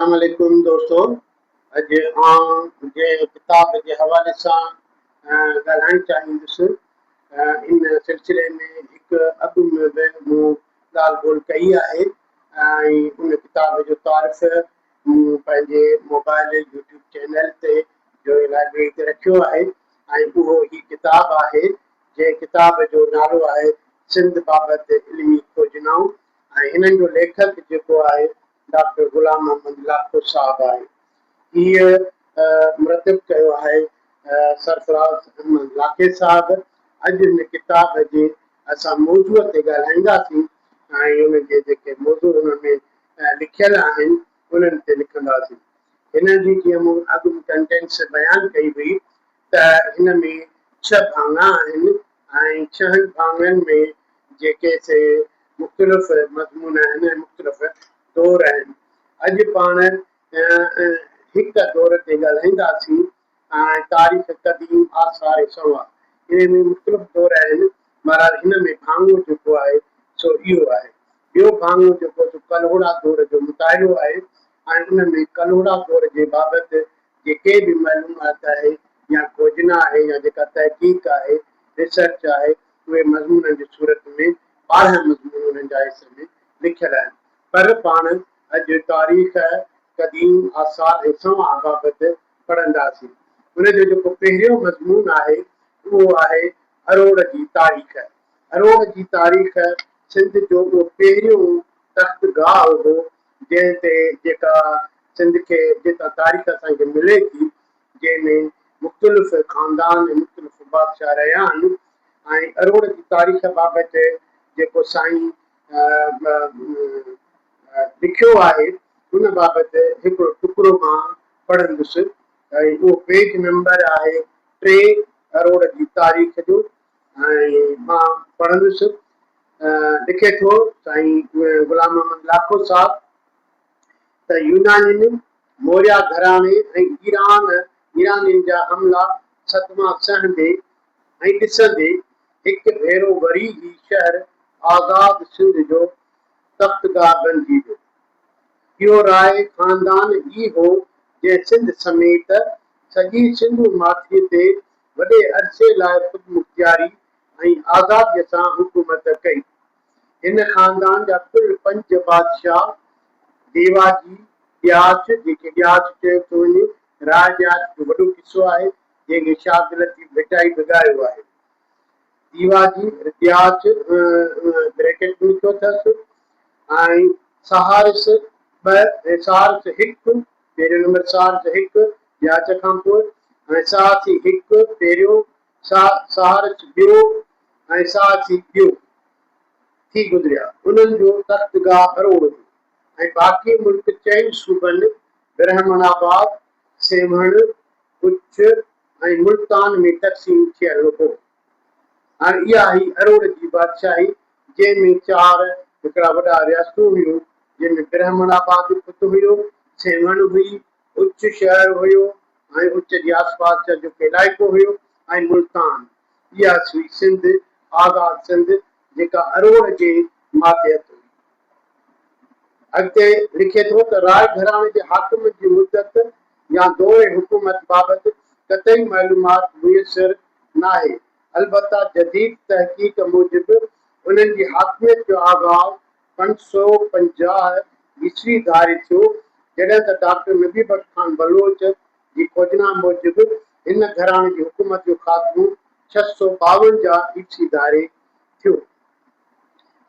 اسلام عليڪم دوستو اڄ آئون جنهن ڪتاب جي حوالي سان ڳالهائڻ چاهيندس ان سلسلي ۾ هڪ اڳ ۾ به مون ڳالهه ٻولهه ڪئي آهي ۽ ان ڪتاب جو تعارف مون پنهنجي موبائل يوٽيوب چينل تي جو لائبرري تي رکيو آهي ۽ اهو هي ڪتاب آهي جنهن ڪتاب جو نالو آهي سنڌ بابت علمي کوجنائون ۽ هنن جو ليکڪ جيڪو آهي ڊاڪٽر غلام محمد لاکو صاحب آهي. هيء مرتب ڪيو آهي سرفراز احمد لاکي صاحب. اڄ هن ڪتاب جي اسان موضوع تي ڳالهائينداسين ۽ ان جي جيڪي موضوع ان ۾ لکيل آهن انهن تي لکنداسين. هن جي جيئن مون اڳ ڪنٽينٽس بيان ڪئي هئي ته هن ۾ ڇهه ڀاڱا آهن ۽ ڇهن ڀاڱن ۾ جيڪي سي مختلف مضمون آهن ۽ مختلف دور آهن. اڄ پاڻ هڪ دور تي ڳالهائينداسين ۽ تاريخ قديم آثار سنوا انهي ۾ مختلف دور آهن بهرحال هن ۾ ڀاڱو جيڪو آهي سو اهو آهي. ٻيو ڀاڱو جيڪو سو ڪلهوڙا دور جو مطالعو آهي ۽ ان ۾ ڪلهوڙا دور جي بابت جيڪي به معلومات آهي يا کوجنا آهي يا جيڪا تحقيق آهي، Research، آهي اهي مضمونن جي صورت ۾ ٻارهن مضمون انهن جا حصي ۾ لکيل آهن پر پاڻ اڄ تاريخ، قديم آثار ۽ سنوان بابت پڙهنداسين. ان جو جيڪو پهريون مضمون آهي اهو آهي اروڙ جي تاريخ. اروڙ جي تاريخ سنڌ جو اهو پهريون تخت گاهه هو جنهن تي جيڪا سنڌ کي جيڪا تاريخ اسان کي ملي ٿي جنهن ۾ مختلف خاندان ۽ مختلف بادشاهه رهيا آهن ۽ اروڙ جي تاريخ بابت جيڪو سائين لکيو آهي ان بابت هڪڙو ٽڪرو مان پڙهندس ۽ اهو پيج نمبر آهي ٽي اروڙ جي تاريخ جو. مان پڙهندس لکي ٿو سائين غلام محمد لاکو صاحب ته يونانين، موريا گهراڻي ۽ ايران ايرانين جا حملا صدما سهندي ۽ ڏسندي هڪ ڀيرو وري هي شهر آزاد سنڌ جو تختگاهه بنجي ويو. اهو راء خاندان ئي هو جنهن سنڌ سميت سڄي سنڌو ماٿري تي وڏي عرصي لاء خودمختياري ۽ آزاديء سان حڪومت ڪئي. هن خاندان جا ڪل پنج بادشاهه، ديواجي، ڏياچ، جنهن کي ڏياچ چيو ٿو وڃي، راء ڏياچ جو وڏو قصو آهي، جنهن کي شاهه عبداللطيف ڀٽائي به ڳايو آهي. ديواجي، ڏياچ، بريڪٽ ۾ لکيو اٿس، ۽ سهارس ٻه ۽ سهارس هڪ پيريو نمبر سارج هڪ، جياچ کان پوء، ۽ ساهسي هڪ، پيريو، سارج ٻيو، ۽ ساهسي ٻيو، ٿي گذريا. انهن جو تخت گاهه اروڙ هو، ۽ باقي ملڪ چئن صوبن، برهمڻ آباد، سيوهڻ، ڪڇ، ۽ ملتان ۾ تقسيم ٿيل هو. هاڻ اها هئي اروڙ جي بادشاهي، جنهن ۾ چار هڪڙا وڏا رياستون هيون، جنهن ۾ برهمڻ آباد اتو هيو، سيوهڻ هئي، اچ شهر هيو ۽ اچ جي آسپاس جا جو ڪي علائقو هيو ۽ ملتان. اها هئي سنڌ، آزاد سنڌ، جيڪا اروڙ جي ماتحت هئي. اڳتي لکي ٿو ته راء گهراڻي جي حاڪمن جي مدت يا دور حڪومت بابت قطعي معلومات ميسر ناهي، البته جديد تحقيق موجب انهن جي حاڪميت جو آغاز پنج سؤ پنجاهه عيسوي ڌاري ٿيو، جڏهن ته ڊاڪٽر نبي بخش خان بلوچ جي کوجنا موجب هن گهراڻي جي حڪومت جو خاتمو ڇهه سؤ ٻاونجاهه عيسوي ڌاري ٿيو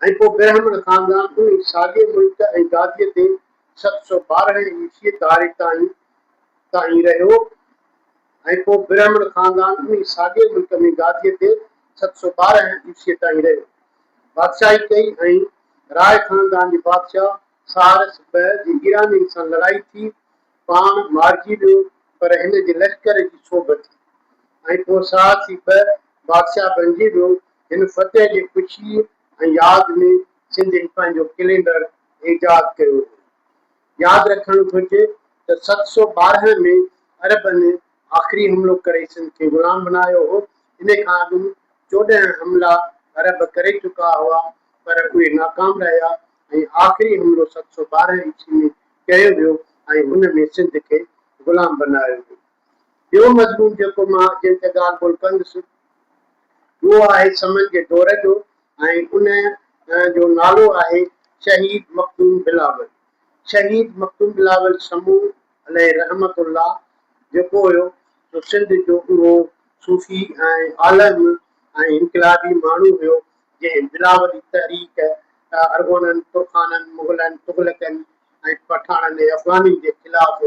۽ پوء برهمڻ خاندان ان ئي ساڳئي ملڪ ۽ گاديء تي ست سؤ ٻارهن عيسوي ڌاري تائين تائين رهيو ۽ پوء برهمڻ خاندان انهي ساڳئي ملڪ ۾ گاديء تي ست سؤ ٻارهن عيسويء تائين رهيو بادشاهي ڪئي ۽ راء خاندان جي بادشاهه ساهرس ٻه جي ايرانين سان لڙائي ٿي پاڻ مارجي ويو پر هن جي لشڪر جي سوڀ ٿي ۽ پوء ساهرسي ٻه بادشاهه بڻجي ويو هن فتح جي خوشيء ۽ ياد ۾ سنڌين پنهنجو ڪلينڊر ايجاد ڪيو هو ياد رکڻ گهرجي ته ست سؤ ٻارهن ۾ عربن آخري حملو ڪري سنڌ کي غلام بنايو هو، ان کان اڳ چوڏهن حملا عرب ڪري چڪا هئا پر اهي ناڪام رهيا ۽ آخري حملو ست سؤ ٻارهن عيسوي ۾ ڪيو ويو ۽ ان ۾ سنڌ کي غلام بنايو ويو. ٻيو مضمون جيڪو مان جنهن تي ڳالهه ٻولهه ڪندس اهو آهي سمن جي دور جو ۽ ان جو نالو آهي شهيد مخدوم بلاول. شهيد مخدوم بلاول سمون عليه رحمة الله جيڪو هيو سو سنڌ جو اهو صوفي ۽ عالم ۽ انقلابي ماڻهو هيو جنهن بلاولي تحريڪ ارغونن، ترخانن، مغلن، تغلقن، ۽ پٺاڻن ۽ افغانين جي خلاف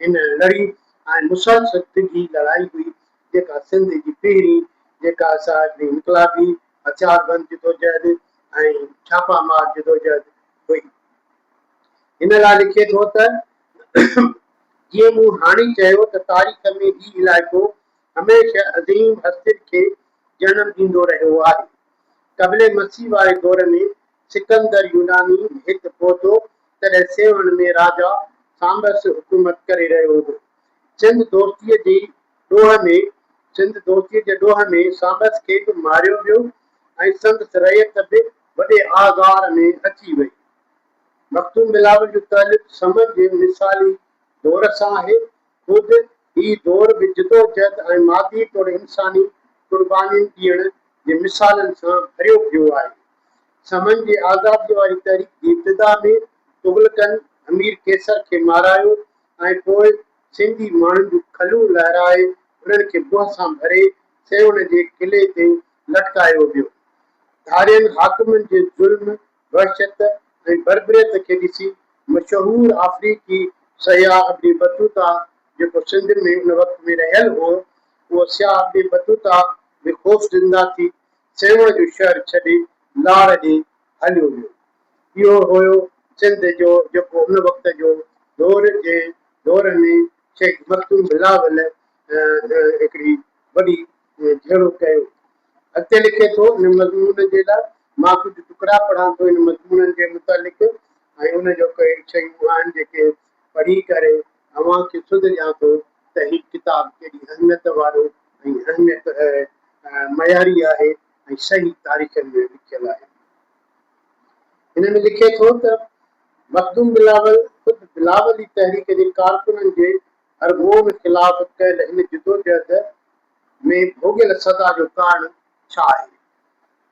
هن لڙي ۽ مسلسل ڊگهي لڙائي هئي جيڪا سنڌ جي پهرين جيڪا ساڄي انقلابي هٿياربند جدوجهد ۽ ڇاپا مار جدوجهد هئي. هن لاء لکي ٿو ته جيئن مون هاڻي چيو ته تاريخ ۾ هي علائقو هميشه عظيم هستين کي جنم ڏيندو رهيو آهي. قبل مسيح واري دور ۾ سڪندر يوناني هت پهتو، تڏهن سيوهڻ ۾ راجا سانبس حڪومت ڪري رهيو هو. سنڌ دوستيء جي ڏوهه ۾، سنڌ دوستيء جي ڏوهه ۾ سانبس کي به ماريو ويو ۽ سندس رعيت به وڏي آزار ۾ اچي وئي. مخدوم بلاول جو تعلق سمن جي مثالي دور سان آهي، خود هي دور به جدوجهد ۽ مادي توڙي انساني قربانين ڏيڻ جي مثالن سان ڀريو پيو آهي. سمن جي آزاديء واري تحريڪ جي ابتدا ۾ تغلقن همير قيصر کي مارايو ۽ پوء سنڌي ماڻهن جون کلون لهرائي انهن کي بهه سان ڀري سيوهڻ جي قلعي تي لٽڪايو ويو. ڌارين حاڪمن جي ظلم، وحشت ۽ بربريت کي ڏسي مشهور آفريڪي سياح ابن بطوطه جيڪو سنڌ ۾ ان وقت ۾ رهيل هو، اهو سياح ابن بطوطه به خوفزنده ٿي سيوهڻ جو شهر ڇڏي لاڙ ڏي هليو ويو. اهو هيو سنڌ جو جيڪو ان وقت جو دور جنهن دور ۾ شهيد مخدوم بلاول هڪڙي وڏي جهڙو ڪيو. اڳتي لکي ٿو، ان مضمون جي لاء مان ڪجهه ٽڪرا پڙهان ٿو ان مضمون جي متعلق ۽ ان جو ڪي شيون آهن جيڪي پڙهي ڪري اوهان کي سڌ ڏيان ٿو ته هي ڪتاب ڪيڏي اهميت وارو ۽ اهميت معياري آهي ۽ صحيح تاريخن ۾ لکيل آهي. هن ۾ لکي ٿو ته مخدوم بلاول خود بلاولي تحريڪ جي ڪارڪنن جي هرگوم خلاف ڪيل هن جدوجهد ۾ ڀوڳيل سزا جو ڪارڻ ڇا آهي؟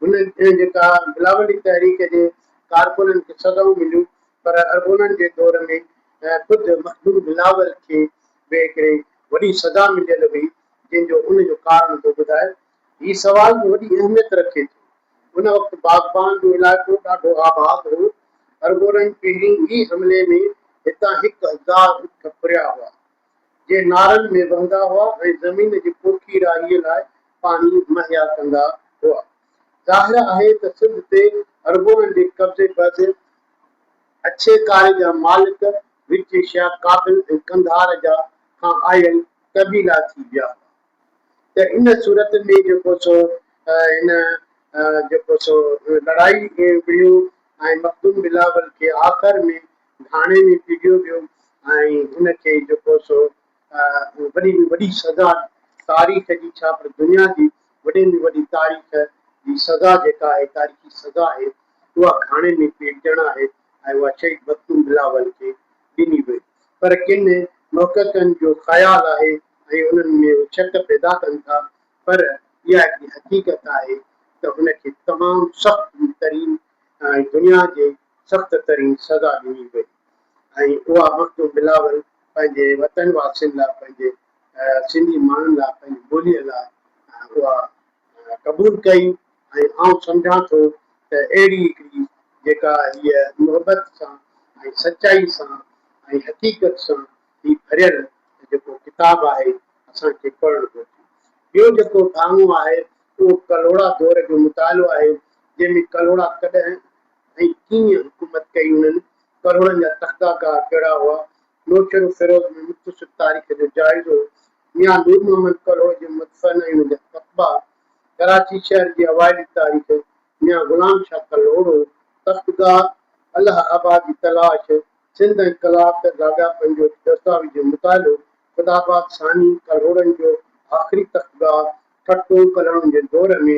هن ۽ جيڪا بلاولي تحريڪ جي ڪارڪنن کي سزائون مليون پر ارغونن جي دور ۾ خود مخدوم بلاول کي به هڪڙي وڏي سزا مليل هئي جنهن جو ان جو ڪارڻ ٿو ٻڌائي. هي سوال به وڏي اهميت رکي ٿو. ان وقت باغبان جو علائقو ڏاڍو آباد هو. ارغونن پهرين ئي حملي ۾ هتان هڪ هزار اٺ ڦريا هئا. جي نارن ۾ وهندا هئا ۽ زمين جي پوکي راهي لاء پاڻي مهيا ڪندا هئا. ظاهر آهي ته سنڌ تي عربونن جي قبضي بعد اڇي ڪاري جا مالڪ وچي شيا ڪابل ۽ قنڌار جا کان آيل قبيلا ٿي ويا هئا ته ان صورت ۾ جيڪو سو هن جيڪو سو لڙائي وڙهيو ۽ مخدوم بلاول کي آخر ۾ ٿاڻي ۾ پيڊيو ويو ۽ هن کي جيڪو سو وڏي ۾ وڏي سزا تاريخ جي ڇا پر دنيا جي وڏي ۾ وڏي تاريخ جي سزا جيڪا آهي تاريخي سزا آهي اها گهاڻي ۾ پيٽجڻ آهي ۽ اها شهيد مخدوم بلاول کي ڏني وئي پر ڪن محققن جو خيال آهي ۽ انهن ۾ اهي شڪ پيدا ڪن ٿا پر اها هڪڙي حقيقت آهي ته هن کي تمام سخت ترين ۽ دنيا جي سخت ترين سزا ڏني وئي ۽ اها مخدوم بلاول پنهنجي وطن واسين لاء پنهنجي سنڌي ماڻهن لاء پنهنجي ٻوليء لاء اها قبول ڪئي ۽ آئون سمجهان ٿو ته اهڙي هڪڙي جيڪا هيء محبت سان ۽ سچائي سان ۽ حقيقت سان هي ڀريل جيڪو ڪتاب آهي اسان کي پڙهڻ گهرجي. ٻيو جيڪو ڀاڱو آهي اهو ڪلهوڙا دور جو مطالعو آهي جنهن ۾ ڪلهوڙا ڪڏهن ۽ ڪيئن حڪومت ڪئي انهن ڪروڙن جا تخته گاهه ڪهڙا هئا نوشهرو فيروز ۾ مختصر تاريخ جو جائزو ميان نور محمد ڪلهوڙو جي مدفن ۽ ان جا تقبا ڪراچي شهر جي اوائلي تاريخ ميان غلام شاهه ڪلهوڙو تخت گاهه الهه آباد جي تلاش سنڌ ۽ ڪلاڪ تي لاڳاپن جو دستاويزي مطالعو خدا آباد ثاني ڪلهوڙن جو آخري تخت گاهه ٺٽو ڪلهوڙن جي دور ۾